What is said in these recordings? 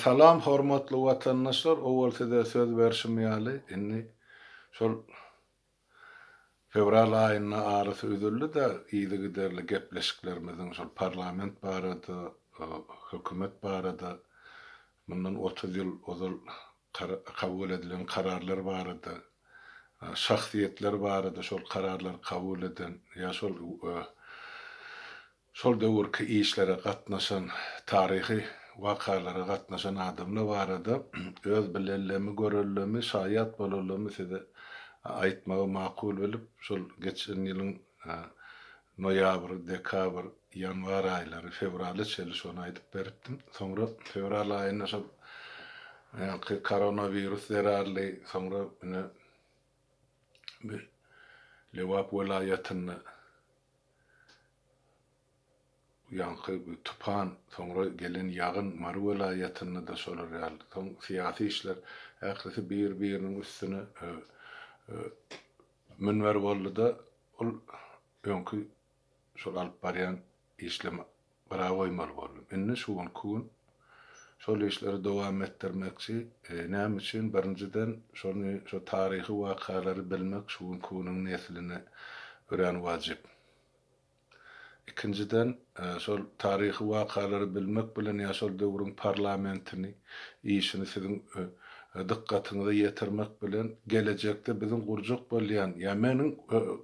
Salam hormatly watandaşlar owal size söz berşim ýaly indi şol fewral aýynda arasy üzüldida yzygiderli gepleşiklerimiziň şol parlament barada hökümet barada mundan otuz ýyl ozal kabul edilen kararlar barada şahsyýetler barada şol kararlary kabul eden ýa şol Şol döwürki işlere gatnaşan, taryhy wakalara gatnaşan adamlar barada öz bilenlemi, görenlemi, şaýat bolanlamy size aýtmagy makul bilip, şol geçen ýylyň noýabr, dekabr, ýanwar aýlary, fewraly çenli şony aýdyp beripdim. Soňra fewral aýynda şol ýaňky koronawirus zerarly, soňra ine, we Lebap welaýatynda bu ýaňky bu tupan, soňra gelen ýagyn Mary welaýatynda-da şolar ýaly. Soň syýasy işler ählisi bir-biriniň üstüne münber boldy-da, ol öňki şol alyp barýan işleme gyra goýmaly boldum. Indi şu günki gün şol işleri dowam etdirmekçi. Näme üçin? Birinjiden, şony, şu taryhy wakalary bilmek şu günki günüň nesline örän wajyp. Ikinjiden, şol taryhy wakalary bilmek bilen ýa şol döwrüň parlamentini, işini siziň dykgatyňyza ýetirmek bilen, gelejekde biziň gurjak bolýan ýa meniň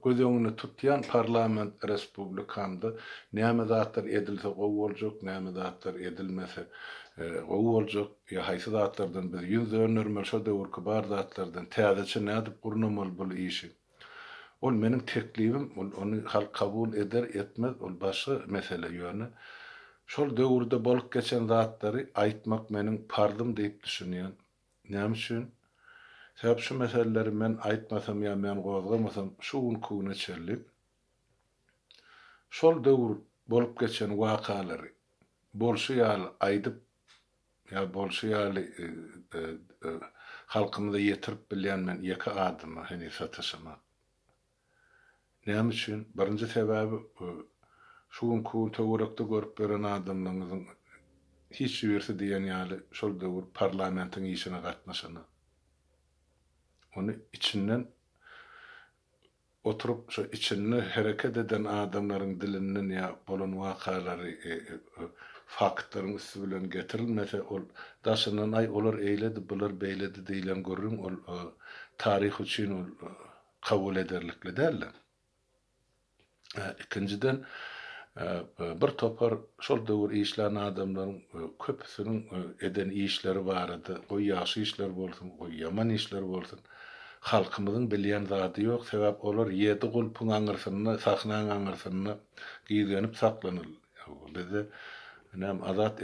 göz öňünde tutýan parlament respublikamda näme zatlar edilse gowy boljak, näme zatlar edilmese gowy boljak ýa haýsy zatlardan biz ýüz döndermeli, şo döwürki bar zatlardan täzeçe nädip gurnamaly bul işi. Ol meniň teklibim, ol ony halk kabul eder, etmez, ol başga mesele, ýöne şol döwürde bolup geçen zatlary aýtmak meniň parzym diýip düşünýän. Näme üçin? Sebäp şu meseleleri men aýtmasam ýa men gozgamasam şu günki güne çenli şol döwür bolup geçen wakalary bolşy ýaly aýdyp Ýa bolşy ýaly halkymyza ýetirip bilýän men ýeke adama heniz sataşaman. Näme üçin? Birinji sebäbi şu günki gün töwerekde görüp ýören adamlaňyzyň hiç birisi diýen ýaly şol döwür parlamentiň işine gatnaşanok. Ony içinden Oturyp şo içinde hereket eden adamlaryň dilinden ýa bolan wakalary faktlaryň üsti bilen getirilmese ol daşyndan aý olar eýledi bular beýledi diýilen gürrüň ol taryh üçin ol kabul ederlikli däldir. Ikinjiden bir topar şol döwür işlän adamlaryň köpüsiniň eden işleri barada goý ýagşy işler bolsun goý ýaman işler bolsun Halkymyzyň bilýän zady ýok, sebäp olar ýedi gulpuň aňyrsynda, sahnaň aňyrsynda gizlenip saklanylýar. Bizde näme azat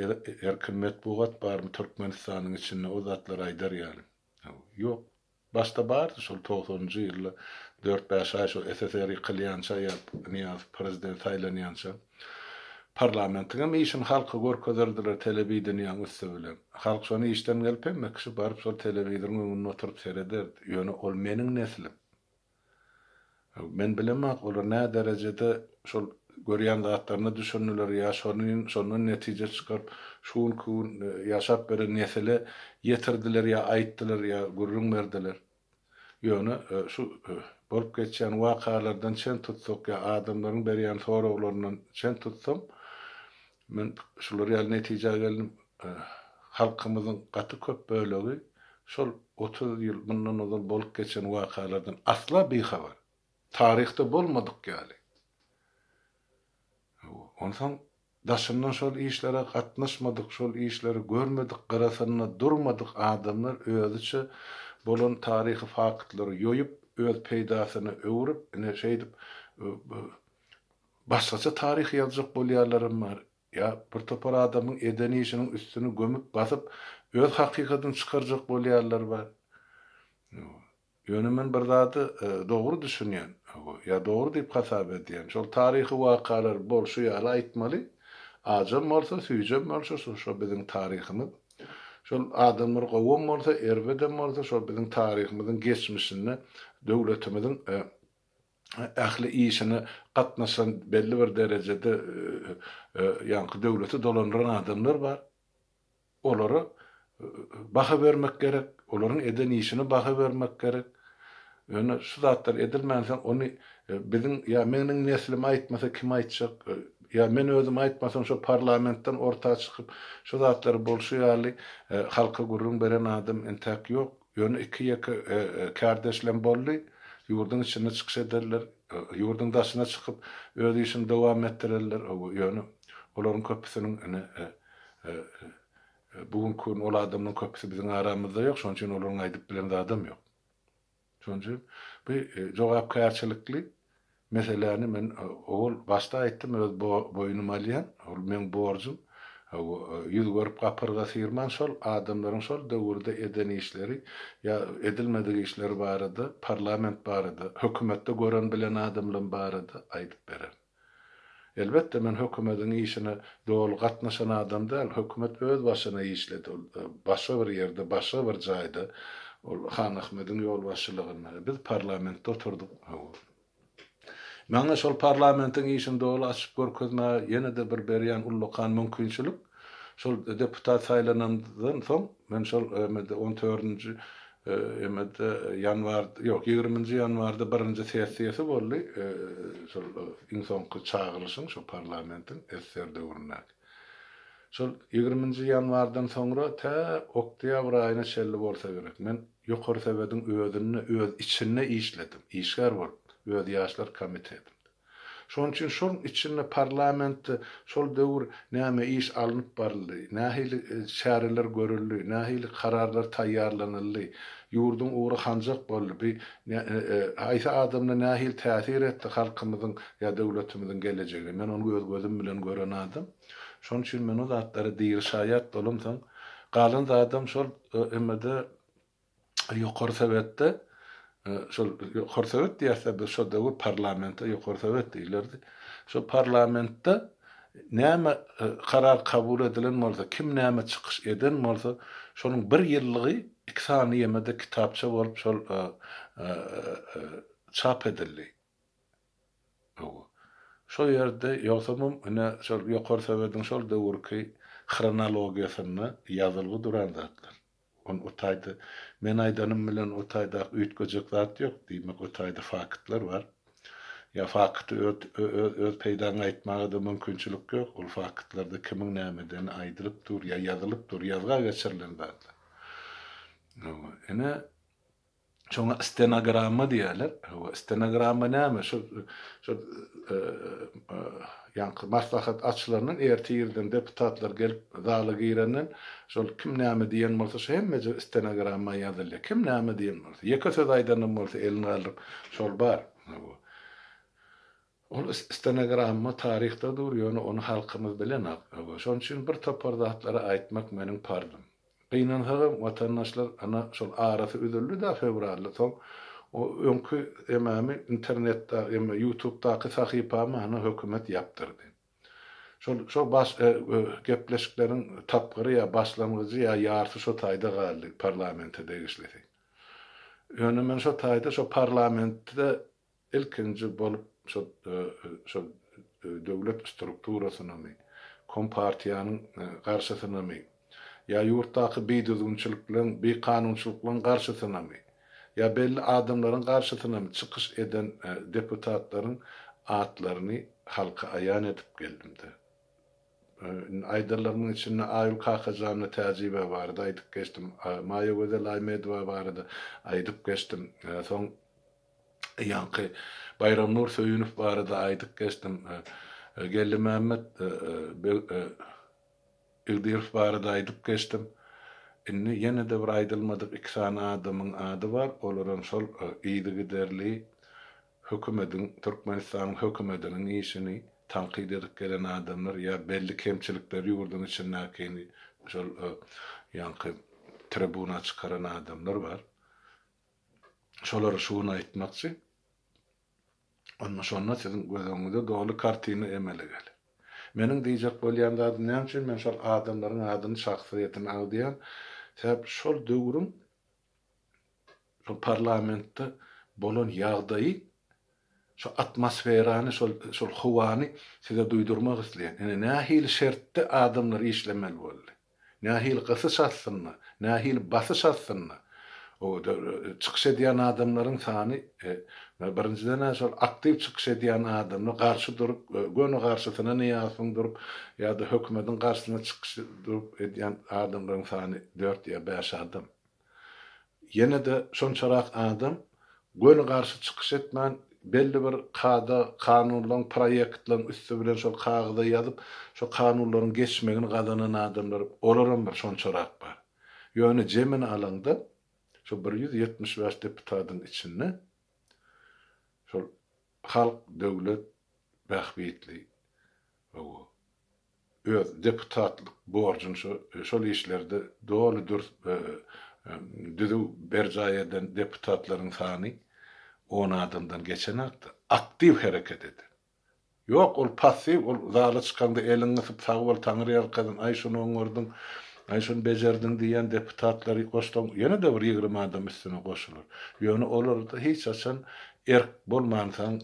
erkin metbugat barmy Türkmenistanyň içinde o zatlary aýdar ýaly? Ýok. Başda bardy şol togsanynjy ýylda dört-bäş aý şo SSR ýykylýança ýa Nyýazow prezident saýlanýança. Parlamentiňem işini halka görkezerdiler telewideniýäň üsti bilen. Halk şony işden gelip hem mekişip baryp şol telewizoryň öňünde oturyp serederdi. Ýöne ol meniň neslim. Men bilemok olar nä derejede şol görýän zatlaryna düşündiler ýa şonuň şondan netije çykaryp şu günki gün ýaşap beren nesile ýetirdiler ýa aýtdylar ýa gürrüň berdiler. Ýöne şu bolup geçýän wakalardan çen tutsak ýa adamlaryň berýän soraglaryndan çen tutsam, men şular ýaly netijä geldim, halkymyzyň gaty köp bölegi şol otuz ýyl mundan ozal bolup geçen wakalardan asla bihabar. Taryhda bolmadyk ýaly. Onsoň Daşyndan şol işlere gatnaşmadyk, şol işleri görmedik, gyrasynda durmadyk adamlar özüçe bolan taryhy faktlary ýoýup, öz peýdasyna öwrüp, ine, şeýdip, başgaça taryh ýazjak bolýarlaram bar. Ýa bir topar adamyň eden işiniň üstüni gömüp, basyp, öz hakykatyny çykarjak bolýarlar bar. Ýöne men bir zady dogry düşünýän, ýa dogry diýip hasap edýän, şol taryhy wakalar bolşy ýaly aýtmaly, ajam bolsa, süýjem bolşy, şo biziň taryhymyz. Şol adamlar gowam bolsa, erbedem bolsa, şo biziň taryhymyzyň geçmişinde döwletimiziň ähli işine gatnaşan, belli bir derejede ýaňky döwleti dolandyran adamlar bar. Olara baha bermek gerek, olaryň eden işine baha bermek gerek. Ýöne şu zatlar edilmänsoň, ony biziň ýa meniň neslim aýtmasa kim aýtjak? Ýa men özüm aýtmasam, şo parlamentden orta çykyp, şu zatlar bolşy ýaly halka gürrüň beren adam entäk ýok. Ýöne iki-ýeke kärdeşlem boldy, ýurduň içinde çykyş ederler, ýurduň daşyna çykyp, öz işini dowam etdirerler, ýöne olaryň köpüsiniň ine, bu günki gün ol adamlaryň köpüsi biziň aramyzda ýok, şonuň üçin olaryň aýdyp bilen zadam ýok. Şonuň üçin bu jogapkärçilikli Meseläni men owal başda aýtdym, öz boýnuma alýan, ol meň borjum. Ýüz görüp gapyrga syrman şol adamlaryň şol döwürde eden işleri ýa edilmedik işleri barada, parlament barada, hökümetde gören-bilen adamlam barada aýdyp bererin. Elbetde men hökümediň işine doly gatnaşan adam däl, hökümet öz başyna işledi, ol başga bir ýerde, başga bir jaýda, ol Hanahmediň ýolbaşçylygynda, biz parlamentde oturdyk. Maňa şol parlamentiň işini doly açyp görkezmäge ýene-de bir berýän ullakan mümkinçilik, şol deputat saýlanandan soň, men şol emede on dördünji emede ýanwar, ýok, ýigriminji ýanwarda birinji sessiýasy boldy, şol iň soňky çagyrylyşyň, şol parlamentiň SSR döwründäki. Şol ýigriminji ýanwardan soňra tä oktýabr aýyna çenli bolsa gerek, men Ýokary Sowediň özünde, öz içinde işledim, işgär bolup, öz ýaşlar komitetinde. Şonuň üçin şol içinde parlamentde şol döwür näme iş alnyp baryldy, nähili çäreler görüldi, nähili kararlar taýýarlanyldy, ýurduň ugry hanjak boldy, bi haýsy adamlar nähili täsir etdi halkymyzyň ýa döwletimiziň gelejegine, men ony öz gözüm bilen gören adam. Şonuň üçin men o zatlara diri şaýat bolamsoň, galan zadam şol. BMG-de Ýokary Sowetde, şol Ýokary Sowet diýersä biz şo döwür parlamente Ýokary Sowet diýilerdi. Şo parlamentde näme karar kabul edilen bolsa, kim näme çykyş eden bolsa, şonuň bir ýyllygy iki sany ýemede kitapça bolup şol çap edildi. Gowy. Şo ýerde, ýogsa mümkine şol Ýokary Sowetiň şol döwürki hronologiýasynda ýazylgy duran zatlar. Ony o taýda men aýdanym bilen o taýda üýtgejek zat ýok. Diýmek, o taýda faktlar bar. Ýa fakty öz peýdaňa aýtmaga-da mümkinçilik ýok. Ol faktlarda kimiň nämedeni aýdylyp dur ýa ýazylyp dur, ýazga geçirilen zatlar. Gowy. Ine, Şoňa stenogramma diýerler. Hawa, stenogramma näme? Şu şu ýaňky maslahat açylandan ertir irden deputatlar gelip zala girenden şol kim näme diýen bolsa şu hemmeje stenogramma ýazylýar. Kim näme diýen bolsa. Ýeke söz aýdanam bolsa elini galdyryp şol bar. Hawa. Ol stenogramma taryhda dur, ýöne ony halkymyz bilenok. Şonuň üçin bir topar zatlary aýtmak meniň parzym. Gynansagam, watandaşlar, ana, şol arasy üzüldi-dä fewralda, soň o öňki ememi internetda, eme, ýutubdaky sahypamy, ana, hökümet ýapdyrdy. Şol, şo baş, e, gepleşikleriň tapgyry ýa başlangyjy ýa ýarsy şo taýda galdy, parlamente degislisi. Ýöne men şo taýda şo parlamentde Ilkinji bolup şo şo döwlet strukturasynamy, kompartiýanyň garşysynamy, ýa ýurtdaky bidüzgünçilikleriň, bikanunçylyklaryň garşysynamy, ýa belli adamlaryň garşysynamy çykyş eden deputatlaryň atlaryny halka aýan edip geldim-de. Indi aýdanlarymyň içinde Aýgül Kakajanyna Täjibä barada aýdyp geçdim, Maýagözel Aýmedowa barada aýdyp geçdim, soň, Ýaňky Baýramnur Söýünow barada aýdyp geçdim. Geldimämmet Begdirow barada aýdyp geçdim. Indi ýene-de bir aýdylmadyk iki sany adamyň ady bar. Olaram şol yzygiderli hökümediň, Türkmenistanyň hökümediniň işini tankyt edip gelen adamlar ýa belli kemçilikleri ýurduň içindäkini şol ýaňky tribuna çykaran adamlar bar. Şolary şu gün aýtmakçy. Onda şonda siziň göz öňüňize doly kartina emele geler. Meniň diýjek bolýan zadym näme üçin men şol adamlaryň adyny, şahsyýetini agzýan, sebäp şol döwrüň şol parlamentde bolan ýagdaýy şo atmosferany şol şol howany size duýdurmak isleýän. Ine nähili şertde adamlar işlemeli boldy. Nähili gysyş astynda, nähili basyş astynda çykyş edýän adamlaryň sany birinjiden-ä şol aktiw çykyş edýän adamlar garşy durup, göni garşysyna Nyýazowyň durup ýa-da hökümetiň garşysyna çykyş durup edýän adamlaryň sany dört ýa bäş adam. Ýene-de şonçarak adam göni garşy çykyş etmän, belli bir kada, kanunlaryň, proýektleriň üsti bilen şol kagyza ýazyp, şo kanunlaryň geçmegini gazanan adamlar, olaram bir şonçarak bar. Ýöne jemini alaňda, şo bir ýüz ýetmiş bäş deputadyň içinde şol halk, döwlet bähbitli, hawa, öz deputatlyk borjuny şol işlerde doly dürs we düzüw berjaý eden deputatlaryň sany on adamdan geçenokdy, aktiw hereket eden. Ýok, ol passiw, ol zala çykaňda eliňi gysyp sag bol, taňryýalkasyn, aý şuny oňardyň, aý şuny bejerdiň diýýän deputatlary goşsaň ýene-de bir ýigrimi adam üstüne goşular. Ýöne olarda hiç haçan erk bolmansoň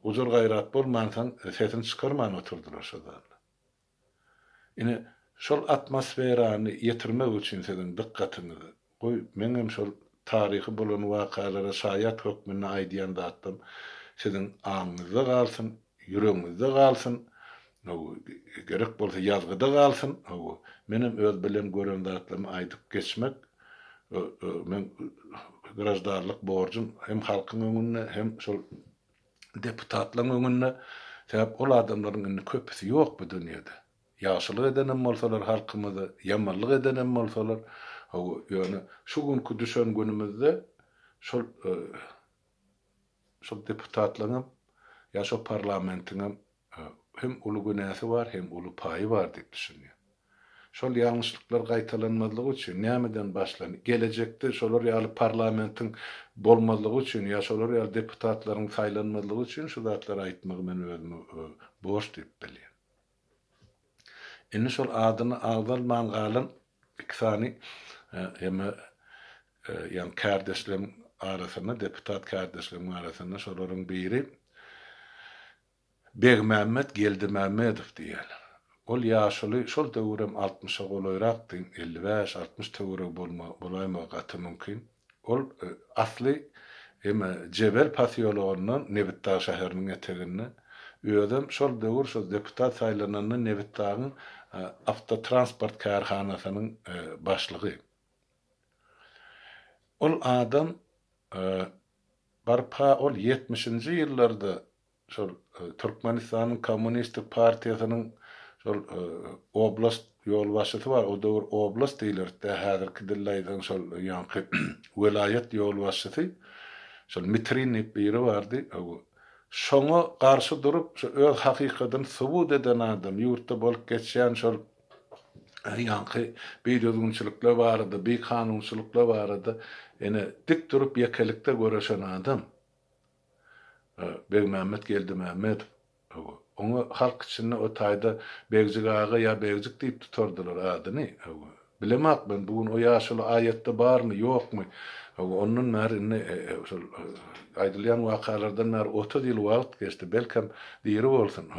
Gujur-gaýrat bolmansoň, sesini çykarman oturdylar şo zalda. Ine, şol atmosferany ýetirmek üçin siziň dykgatyňyzy, goý, meňem şol taryhy bolan wakalara şaýat hökmünde aýdýan zatlarym siziň aňyňyzda galsyn, ýüregiňizde galsyn, Hawa, gerek bolsa ýazgyda galsyn. Hawa, menem öz bilen gören zatlarymy aýdyp geçmek meň graždanlyk borjum hem halkyň öňünde, hem şol deputatlaryň öňünde. Sebäp ol adamlaryň indi köpüsi ýok bu dünýede. Ýagşylyk edenem bolsalar halkymyza, ýamanlyk edenem bolsalar. Hawa, ýöne şu günki düşen günümizde şol şol deputatlaryň hem, ýa şol parlamentiň hem Hem uly günäsi bar, hem uly paýy bar diýip düşünýär. Şol ýalňyşlyklar gaýtalanmazlygy üçin nämeden başlan, gelejekde şolar ýaly parlamentiň bolmazlygy üçin ýa şolar ýaly deputatlaryň saýlanmazlygy üçin şu zatlary aýtmagy men özüme borç diýip bilýän. Indi şol adyny agzalman galan iki sany eme ýaňy kärdeşleriň arasynda, deputat kärdeşleriň arasynda şolaryň biri Begmämmet Geldimämmedow diýýär. Ol ýaşuly şol döwürem altmyşa golaýrakdy, elli bäş, altmyş töweregi bolma, bolaýmagy gaty mümkin. Ol asly eme Jebel posýologyndan Nebitdag şäheriniň eteginde. Özem şol döwür şo deputat saýlananda Nebitdagyň awtotransport kärhanasynyň başlygy. Ol adam Barpa ol ýetmişinji ýyllarda şol Türkmenistanyň Kommunistik partiýasynyň şol oblast ýolbaşçysy bar, o döwür oblast diýlerdi-dä, häzirki dilde aýtsaň şol ýaňky welaýat ýolbaşçysy, şol Mitrin diýip biri bardy, şoňa garşy durup, şu öz hakykatyny subut eden adam, ýurtda bolup geçýän şol ýaňky bidözgünçilikler barada, bikanunçylyklar barada ene dik durup ýekelikde göreşen adam Begmämmet Geldimämmedow. Oňa halk içinde o taýda Begjik aga ýa Begjik diýip tutardylar adyny. Bilemok men, bu gün o ýaşuly aýatda barmy, ýokmy? Ondan bäri indi şol aýdylýan wakalardan bäri otuz ýyl wagt geçdi, belkem, diri bolsun.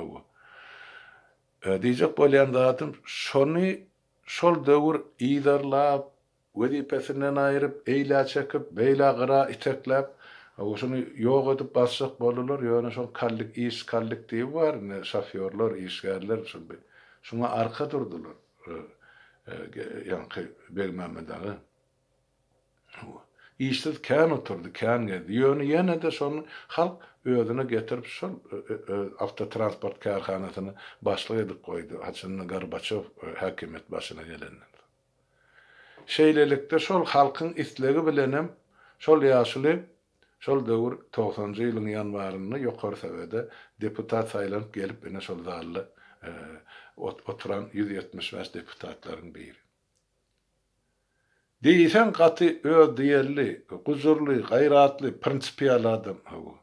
Diýjek bolýan zadym şony şol döwür yzarlap, wezipesinden aýryp, eýlä çekip, beýlä gyra itekläp, şuny ýok edip basjak boldular, ýöne şol kallik iş kollektiwi bar indi, şofýorlar, işgärler şul bir şuňa arka durdular, ýaňky Begmämmet aga. Işsiz kän oturdy, kän gezdi. Ýöne ýene-de şony halk özüne getirip şol awtotransport kärhanasyny başlyk edip goýdy, haçanda Gorbaçýow häkimiýet başyna gelenden soň. Şeýlelikde şol halkyň islegi bilenem şol ýaşuly şol döwür togsanjy ýylyň ýanwarynda Ýokary Sowede deputat saýlanyp gelip ine şol zalda oturan ýüz ýetmiş bäş deputatlaryň biri. Diýseň gaty özdiýelli, gujurly, gaýratly, prinsipial adam hawa.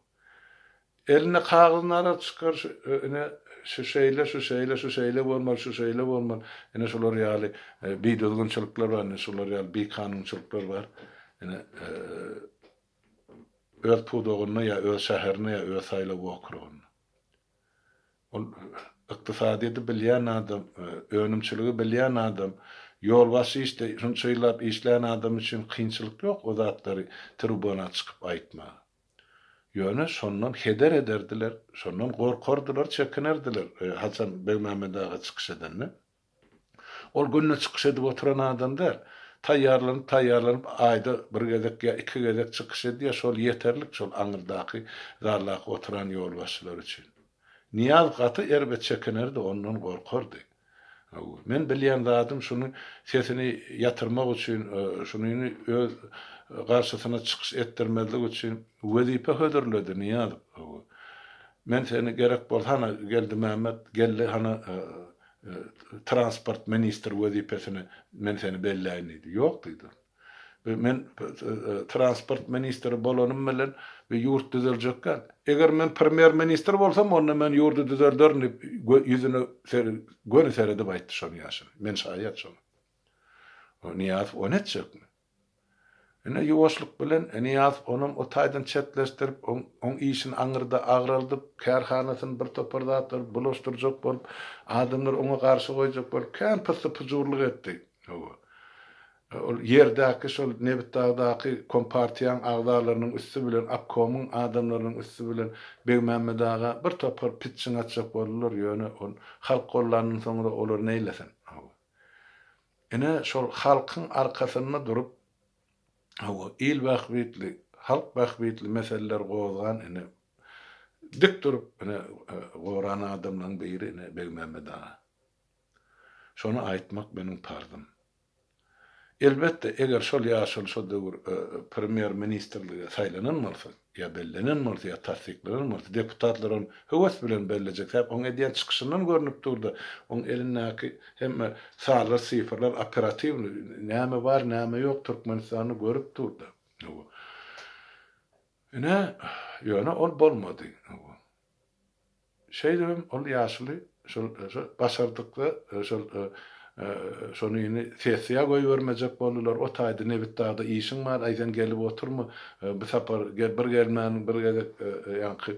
Elinde kagyz narar çykar şu ine şu şeýle şu şeýle şu şeýle bolmaly şu şeýle bolmaly ine şular ýaly bidüzgünçilikler bar ine şular ýaly bikanunçylyklar bar ine öz pudagynda ýa öz şäherinde ýa öz saýlaw okrugynda. Ol ykdysadyýeti bilýän adam, önümçiligi bilýän adam, ýolbaşçy işde şunça ýyllap işlän adam üçin kynçylyk ýok o zatlary tribuna çykyp aýtmaga. Ýöne şondan heder ederdiler, şondan gorkardylar, çekinerdiler, haçan Begmämmet aga çykyş edende. Ol günde çykyş edip oturan adam däl. Taýýarlanyp, taýýarlanyp, aýda bir gezek ýa iki gezek çykyş edýär, şol ýeterlik şol aňyrdaky zaldaky oturan ýolbaşçylar üçin. Nyýaz gaty erbet çekinerdi, ondan gorkardy. Hawa, men bilýän zadym şuny sesini ýatyrmak üçin, şunyny öz garşysyna çykyş etdirmezlik üçin wezipe hödürledi Nyýazow. Hawa. Men seni gerek bolsa hana Geldimämmet, Geldi hana transport ministri wezipesine men seni belläýin diýdi. Ýok diýdim. We men transport ministri bolanym bilen we ýurt düzeljek däl. Eger men premýer ministr bolsam, onda men ýurdy düzelderin diýip, ýüzüne göni seredip aýtdy şony ýaşyny. Men şaýat şoňa. Nyýazow ony etjekmi? Ine, ýuwaşlyk bilen Nyýazow onam o taýdan çetleşdirip, oň işini aňyrda agraldyp, kärhanasyny bir topar zatlar bulaşdyrjak bolup, adamlary oňa garşy goýjak bolup, kän pyssy-pyjurlyk etdi. Hawa. Ol ýerdäki şol Nebitdagdaky kompartiýaň agzalarynyň üsti bilen, obkomyň adamlarynyň üsti bilen Begmämmet aga bir topar pitjiň atjak boldular, ýöne ol halk gollandan soňra olar neýlesin. Hawa. Ine, şol halkyň arkasynda durup, hawa, il bähbitli, halk bähbitli meseleleri gozgan, ine, dik durup, ine, goran adamlaryň biri, ine, Begmämmet aga. Şony aýtmak meniň parzym. Elbetde, eger şol ýaşuly şo döwür Premýer-ministrlige saýlanan bolsa, ýa bellenen bolsa, ýa tassyklanan bolsa, deputatlar ony höwes bilen bellejek. Sebäbi onuň edýän çykyşyndan görnüp dur-da, onuň elindäki hemme sanlar, sifrler operatiwnyý, näme bar, näme ýok Türkmenistanda görüp dur-da. Ine, ýöne ol bolmady. Şeýdip hem ol ýaşuly şol başardykda şol şonyny sessiýa goýbermejek boldular. O taýda Nebitdagda işiň bar, aý sen gelip oturma, bu sapar bir gelmäniň bir gezek ýaňky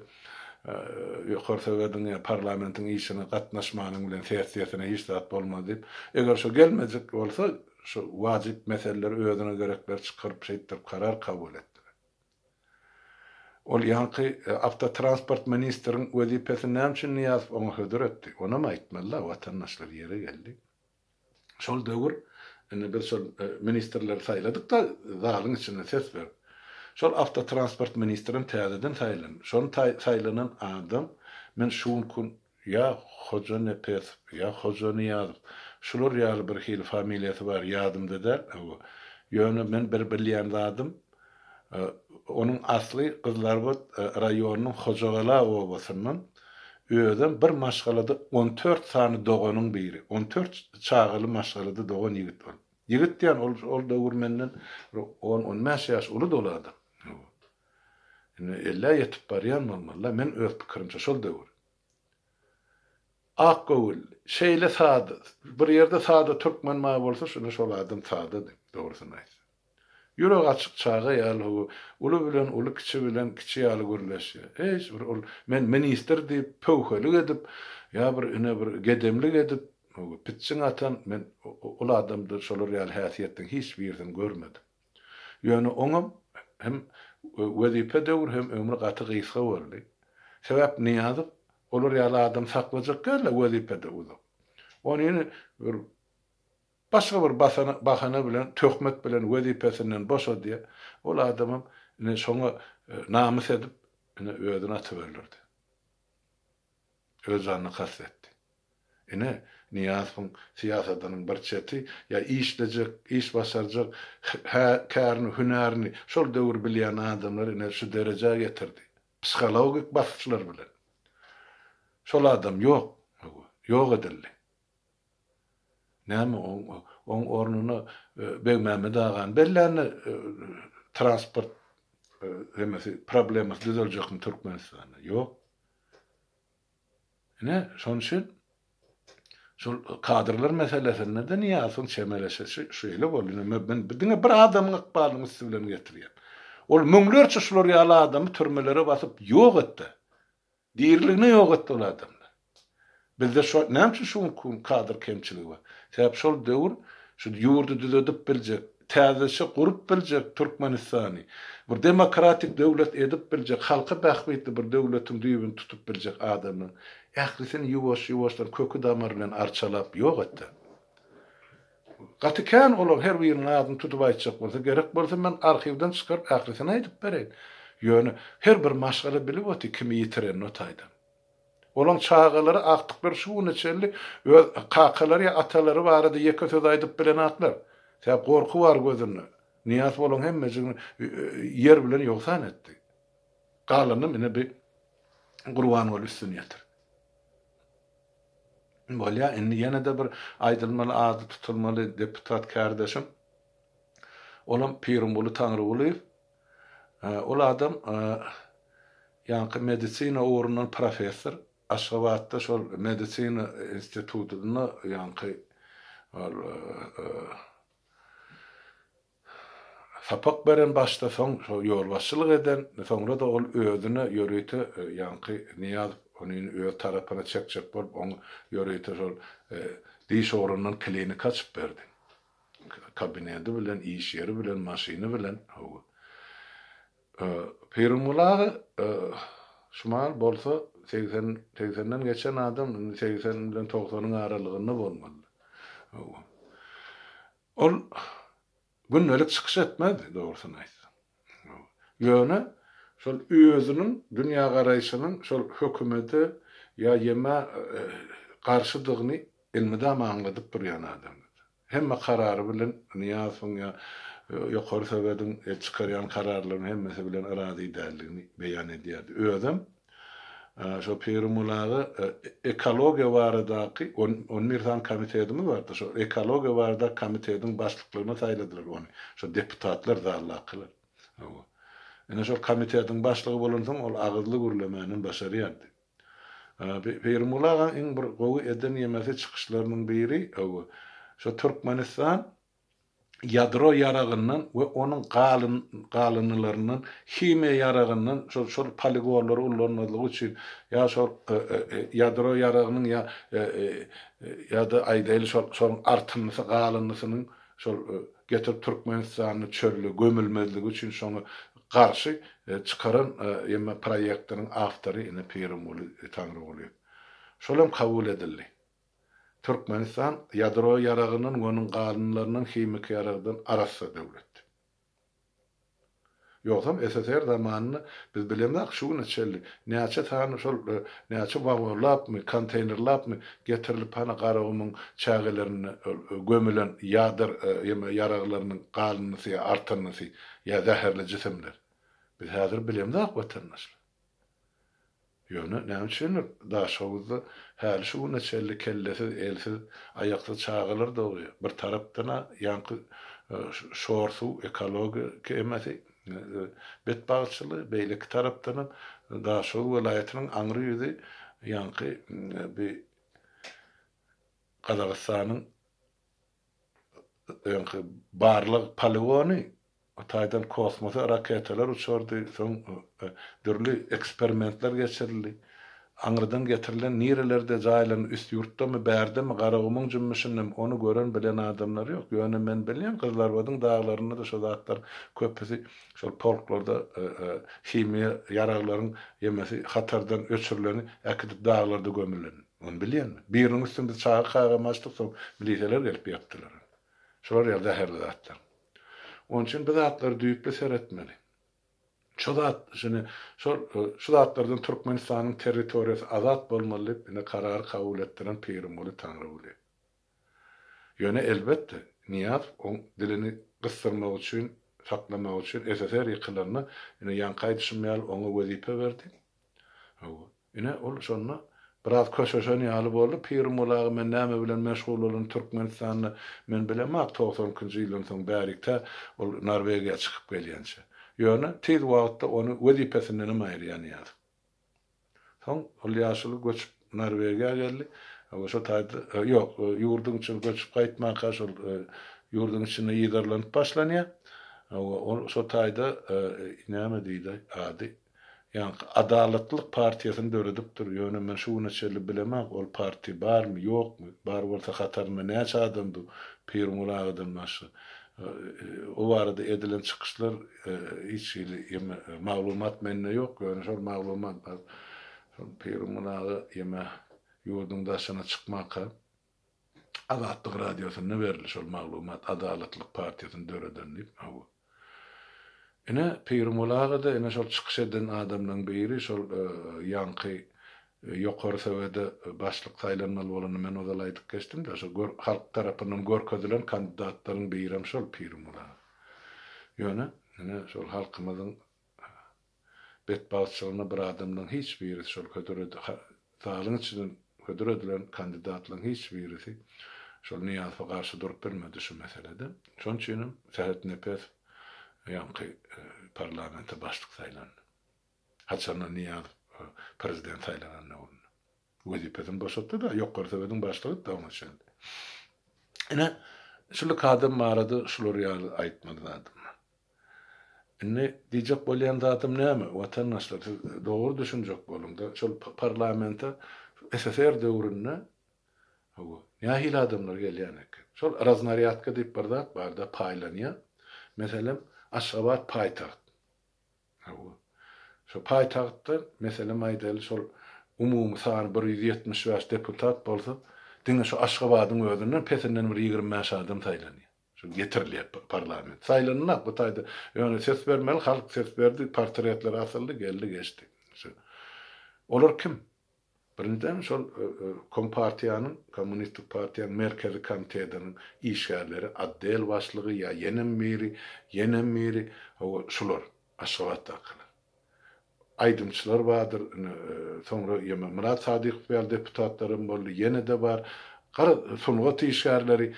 Ýokary Sowediň ýa parlamentiň işine gatnaşmanyň bilen sessiýasyna hiç zat bolmaz diýip, eger şo gelmejek bolsa, şo wajyp meseleleri özüne gerekleri çykaryp şeýtdirip karar kabul etdiler. Ol ýaňky awtotransport ministriň wezipesini näme üçin Nyýazow oňa hödür etdi? Onam aýtmaly-la, watandaşlar, ýeri geldi. Şol döwür, indi biz şol ministrleri saýladyk-da, zalyň içinde ses berip. Şol awtotransport ministrem täzeden saýlandy. Şol saýlanan adam, men şu günki Ýa Hojanepesow, ýa Hojanyýazow, şular ýaly bir hili familiýasy bar, ýadymda däl, hawa. Ýöne men bir bilýän zadym, onuň asly Gyzlarbat raýonynyň Hojagala obasyndan, özem bir maşgalada on dört sany doganyň biri, on dört çagaly maşgalada dogan ýigit bolup. Ýigit diýýän, ol döwür menden bir on-on bäş ýaş ulydy ol adam. Indi ellä ýetip barýan bolmalyda meň öz pikirimçe şol döwür. Akgöwül şeýle sada bir ýerde sada türkmen bar bolsa şonda şol adam sadady dogrusyny aýtsa. Ýüregi açyk çaga ýaly howwa uly bilen uly kiçi bilen kiçi ýaly gürleşýä. Hiç bir ol men ministr diýip pöwhelik edip ýa bir ine bir gedemlik edip pitjiň atan men ol adamda şolar ýaly häsiýetden hiç birisini görmedim. Ýöne oňam hem wezipe döwri hem ömri gaty gysga boldy. Sebäp Nyýazow olar ýaly adam saklajak däldi wezipede uzak. Onyny bir başga bir bahana bilen töhmet bilen wezipesinden boşadýa. Ol adamam ine şoňa namys edip ine özüni atyberlerdi. Öz janyna kast etdi. Ine, Nyýazowyň syýasatynyň bir çeti, ýa işlejek, iş başarjak, hä, kärini, hünärini şol döwür bilýän adamlary ine şu derejä getirdi. Psihologik basyşlar bilen. Şol adam ýok, ýok edildi. Näme oň ornuna Begmämmet agany bellände transport emesi problemasy düzeljekmi Türkmenistanda? Ýok. Ine şonuň üçin şol kadrlar meselesinde-de Nyýazowyň çemeleşişi şeýle boldy. Ine men diňe bir adamyň ykbalynyň üsti bilen getirýän. Ol müňlerçe şular ýaly adamy türmelere basyp ýok et-de. Diriligine ýok etdi ol adamlar. Bizde şo näme üçin şu günki gün kadr kemçiligi bar? Sebäp şol döwür şu ýurdy düzedip biljek, täzeçe gurup biljek Türkmenistany, bir demokratik döwlet edip biljek, halky bähbitli bir döwletiň düýbüni tutup biljek adamlaryň ählisini ýuwaş-ýuwaşdan köki-damary bilen arçalap ýok etdi. Gaty kän olar her biriniň adyny tutup aýtjak bolsa, gerek bolsa men arhiwden çykaryp ählisini aýdyp bereýin. Ýöne her bir maşgala bilip oty kimi ýitirenini o taýdan. Olaň çagalary agtyklar şu güne çenli öz kakalary ýa atalary barada ýeke söz aýdyp bilenaklar. Sebäp gorky bar gözünde. Nyýazow olaň hemmejigini ýer bilen ýogsan etdi. Galanynam ine bi Gurbanguly üstüni ýetirdi. Bolýa indi ýene-de bir aýdylmaly ady tutulmaly deputat kärdeşim olam Pirimguly Taňrygulyýew. Ol adam ýaňky medisina ugrundan professor. Aşgabatda şol medisina institutynda ýaňky ol Sapak beren başda soň şo ýolbaşçylyk eden soňrada ol özüne ýörite ýaňky Nyýazow onin öz tarapyna çekjek bolup oň ýörite şol diş ogrundan klinik açyp berdi kabinedi bilen iş ýeri bilen maşyny bilen howa Pirimguly aga şumal bolsa segsen segsenden geçen adam indi segsen bilen togsanyň aralygynda bolmalydy howa. Ol gündelik çykyş etmezdi, dogrusyny aýtsaň. Ýöne şol özüniň dünýägaraýşynyň şol hökümete ýa ýeme garşydygyny elmydama aňladyp durýan adamdy. Hemme karary bilen Nyýazowyň ýa Ýokary Sowediň çykarýan kararlarynyň hemmesi bilen razy däldigini beýan edýärdi. Özem Şo Pirimulaga ekologiýa baradaky on bir sany komitetimiz bardy. Şo ekologiýa baradaky komitetiň başlyklygyna saýladylar ony. Şo deputatlar zaldakylar. Hawa. Ine şol komitetiň başlygy bolansoň ol agyzly gürlemänem başarýardy. Pirimulagaň iň bir gowy eden ýemesi çykyşlarynyň biri, hawa, şo Türkmenistan ýadro ýaragyndan we onuň galyndylaryndan, himiýa ýaragyndan, şol şol poligonlary ullanmazlyk üçin, ýa şol ýadro ýaragynyň ýa ýa-da aýdaýly şol şonuň artyndysy galyndysynyň şol getirip Türkmenistanda çölde gömülmezligi üçin şoňa garşy çykaran ýa-da proýektiniň awtory ine Pirimguly Taňrygulyýew. Şolam kabul edildi. Türkmenistan ýadro ýaragyndan we onuň galynlaryndan himiki ýaragdan arassa döwlet. Ýogsam SSR zamanynda biz bilemizok şu güne çenli näçe sany şol näçe wagonlapmy, konteýnerlapmy getirilip hany Garagumuň çägelerinde gömülen ýadr ýa ýaraglarynyň galyndysy ýa artandysy ýa zäherli jisimler. Biz häzir bilemizok watandaşlar. Ýöne näme üçindir, Daşoguzda häli şu güne çenli kellesiz, elsiz, aýaksyz çagalar dogýar. Bir tarapdan-a ýaňky şor-suw, ekologiýa kemesi, betbagtçylygy, beýleki tarapdanam Daşoguz welaýatynyň aňry ýüzi ýaňky bi Gazagystanyň, öňki barlag poligony, o taýdan kosmosa raketalar uçardy, soň dürli eksperimentler geçirildi. Aňyrdan getirilen nirelerde jaýlan, üst ýurtdamy, bärdemi, Garagumuň jümmüşindemi, ony gören, bilen adamlar ýok. Ýöne men bilýän, Gyzlarbadyň daglarynda-da şo zatlaryň köpüsi şol polklarda himiýa ýaraglaryň ýemesi hatardan öçürileni äkidip daglarda gömüleni. Muny bilýänmi? Biriniň üstüne biz çaga kagamy açdyk, soň miliseler gelip ýapdylar. Şular ýaly zäherli zatlar. Onuň üçin bu zatlary düýpli seretmeli. Şu zat, şuny, şol, şu zatlardan Türkmenistanyň territoriýasy azat bolmaly diýip ine karary kabul etdiren Pirimguly Taňryguly. Ýöne elbetde, Nyýazow oň dilini gysdyrmak üçin, saklamak üçin, SSR ýykylanda, ine ýaňky aýdyşym ýaly oňa wezipe berdi. Hawa. Ine, ol şonda biraz köşeşen ýaly boldy, Pirim ol aga men näme bilen meşgul bolan Türkmenistanda men bilemok togsan ikinji ýyldan soň bärik tä ol Norwegiýa çykyp gelýänçä. Ýöne tiz wagtda ony wezipesindenem aýyrýan ýaly. Soň ol ýaşuly göçüp Norwegiýa geldi. Hawa şo taýda ýok, ýurduň içine göçüp gaýtmanka şol ýurduň içinde ýyzarlanyp başlanýar. Hawa ol şo taýda näme diýdi ady? Ýaňky Adalatlylyk partiýasyny döredipdir, ýöne men şu güne çenli bilemok, ol partiýa barmy, ýokmy, bar bolsa hatarynda näçe adam dur, Pirguly agadan başga. O barada edilen çykyşlar hiç hili ýeme maglumat mende ýok, ýöne şol maglumat bar, Pirguly aga ýeme ýurduň daşyna çykmaka. Azatlyk radiosynda berildi şol maglumat Adalatlylyk partiýasyny döreden diýip hawa. Ine Pirmul agada ine şol çykyş eden adamlaň biri şol ýaňky ýokary sowede başlyk saýlanmaly bolanda men ozal aýdyp geçdimdä şo gör halk tarapyndan görkezilen kandidatlaryň birem şol Pirmul aga. Ýöne ine şol halkymyzyň Betbagtçylygyna bir adamlaň hiç birisi şol hödüredi ha zalyň içinden hödüredilen kandidatlaň hiç birisi şol Nyýazowa garşy durup bilmedi şu meselede. Şoň üçinem Sähet Nepes ýaňky parlamente başlyk saýlandy. Haçanda Nyýazow prezident saýlanan döwründe. Wezipesini boşatdy-da, ýokary Sowediň başlygy etdi oňa çenli. Ine, şuly kadam barada şular ýaly aýtmaly zadym bar. Indi diýjek bolýan zadym näme, watandaşlar, siz dogry düşünjek boluň-da, şol parlamente SSR döwründe, hawa, nähili adamlar gelýän eken? Şol raznarýadka diýip bir zat bar-da, paýlanýar. Meselem, Aşgabat paýtagt. Hawa. Şo paýtagtda, meselem aýdaýly, şol umumy sany bir ýüz ýetmiş bäş deputat bolsa, diňe şu Aşgabadyň özünden pesinden bir ýigrimi bäş adam saýlanýar. Şol getirilýär parlament. Saýlanylak bu taýda. Ýöne ses bermeli, halk ses berdi, portretler asyldy, geldi geçdi. Olar kim? Birinjiden, şol Kompartiýanyň, Kommunistik partiýanyň Merkezi komitetiniň işgärleri, otdel başlygy ýa ýenem biri, ýenem biri, hawa, şular, Aşgabatdakylar. Aýdymçylar bardyr, ine, soňra ýeme Myrat Sadykow ýaly deputatlar hem boldy, ýene-de bar. Garaz, sungat işgärleri,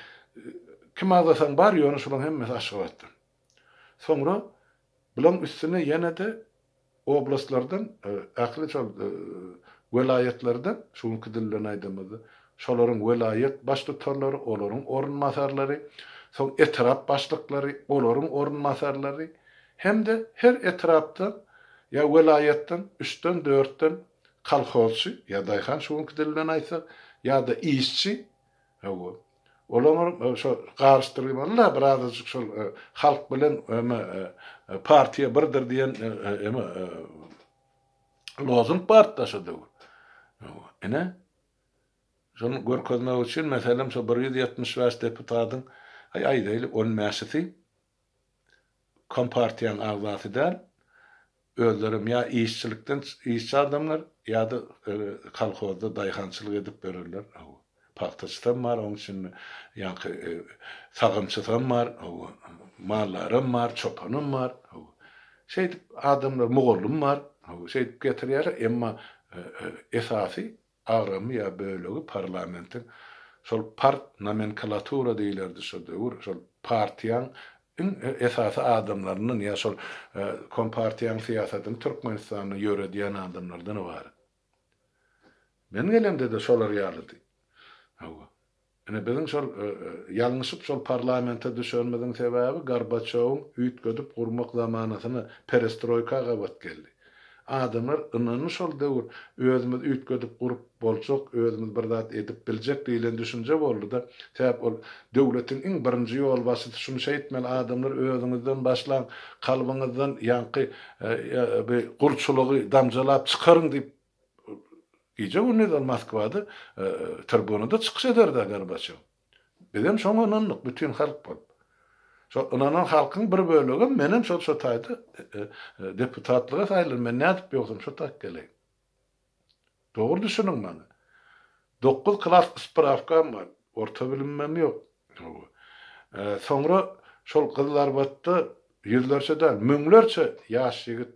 kim agzasaň bar, ýöne şolaryň hemmesi Aşgabatdan. Soňra bulaň üstüne ýene-de oblastlardan, ähli şol welaýatlardan, şu günki dil bilen aýdamyzda, şolaryň welaýat baştutanlary, olaryň orunbasarlary, soň etrap başlyklary, olaryň orunbasarlary hem-de her etrapdan ýa welaýatdan üçden, dörtden kolhozçy ýa daýhan, şu günki dil bilen aýtsak, ýa-da işçi, hawa, Olaňar şo garyşdyryp ýybarla birazajyk şol halk bilen eme partiýa birdir diýen eme lozung bartda şo döwür. Ine şony görkezmek üçin meselem şo bir ýüz ýetmiş bäş deputadyň aý aýdaýly on bäşisi kompartiýanyň agzasy däl, özlerem ýa işçilikden işçi adamlar ýa-da kolhozda daýhançylyk edip ýörerler, hawa. Pagtaçysam bar, oň içinde ýaňky sagamçysam bar, hawa. Mallaram bar, çopanam bar, hawa. Şeýdip adamlar, mugallym bar, hawa. Şeýdip getirýärler, emma esasy agramy ýa bölegi parlamentiň şol part nomenkalatura diýilerdi şo döwür şol partiýaň iň esasy adamlaryndan ýa şol kompartiýaň syýasatyny türkmenistanda ýöredýän adamlardan ybarat men gelemde-de şolar ýalydy hawa Ine biziň şol ýalňyşyp şol parlamente düşenimiziň sebäbi Gorbaçýowyň üýtgedip gurmak zamanasyna perestroýka gabat geldi. Adamlar ynandy şol döwür özümiz üýtgedip gurup boljak, özümiz bir zat edip biljek diýlen düşünje boldy-da. Sebäp ol döwletiň iň birinji ýolbaşçysy şuny şeýtmeli adamlar özüňizden başlaň, kalbyňyzdan ýaňky bu gulçulygy damjalap çykaryň diýip Gije-gündiz ol Moskwada, tribunada çykyş eder-dä Gorbaçýow. Bizem şoňa ynandyk, bütin halk bolup. Şol ynanan halkyň bir bölegem, menem şol şu taýda deputatlyga saýlan, men nädip ýogsam şu taýk geleýin. Dogry düşüniň maňa. Dokuz klas sprawkam bar, orta bilimimem ýok. Hawa. Soňra şol Gyzlarbatda ýüzlerçe däl, müňlerçe ýaş ýigit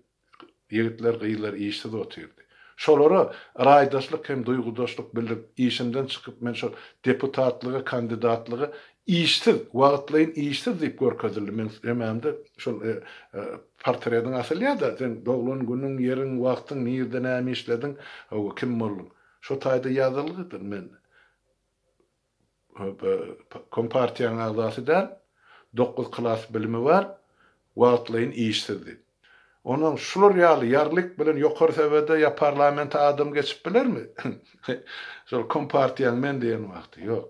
Ýigitler, gyzlar işsiz otyrdy. Şolara yraýdaşlyk hem duýgudaşlyk bildirip, işimden çykyp, men şol deputatlyga kandidatlyga işsiz, wagtlaýyn işsiz diýip görkezildi. Meň söýmämde şol portrediň asylýa-da, seň doglan günüň, ýeriň, wagtyň, nirde näme işlediň, hawa, kim bolduň. Şo taýda ýazylgydyr. Men. Kompartiýanyň agzasy däl, dokuz klas bilimi bar, wagtlaýyn işsizdi. Onam şular ýaly ýarlyk bilen ýokary sebede ýa parlamente adam geçip bilermi? Şol kompartiýaň men diýen wagty, ýok.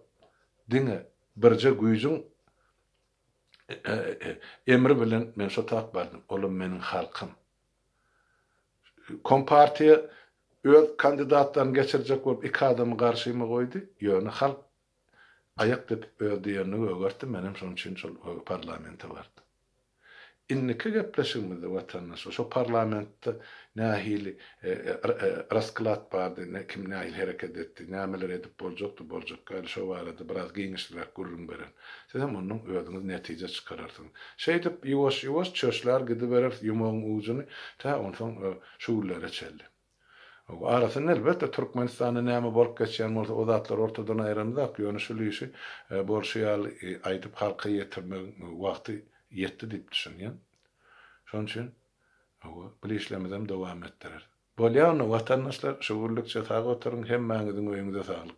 Diňe birje güýjüň emri bilen men şo tap bardym, olam meniň halkym. Kompartiýa öz kandidatlaryny geçirjek bolup iki adamy garşyma goýdy, ýöne halk aýak depip öz diýenini gögertdi, menem şonuň üçin şol parlamente bardym. Indiki gepleşigimizde watandaşlar şo parlamentde nähili rasklad bardy, kim nähili hereket etdi, nämeler edip boljakdy, boljakka ýaly şo barada biraz giňişliräk gürrüň beren. Sizem ondan özüňiz netije çykararsyňyz. Şeýdip, ýuwaş-ýuwaş çöşlär gidibereris ýumagyň ujuny tä onsoň şu günlere çenli. Arasynda, elbetde, Türkmenistanda näme bolup geçýän bolsa, o zatlary ortadan aýramyzak, ýöne şul işi bolşy ýaly aýdyp halka ýetirmegiň wagty ýetdi diýip düşünýän. Şonuň üçin, hawa, bil işlemizem dowam etdireris. Bolýa onda, watandaşlar, şu günlükçe sag oturyň, hemmäňiziň öýüňize saglyk!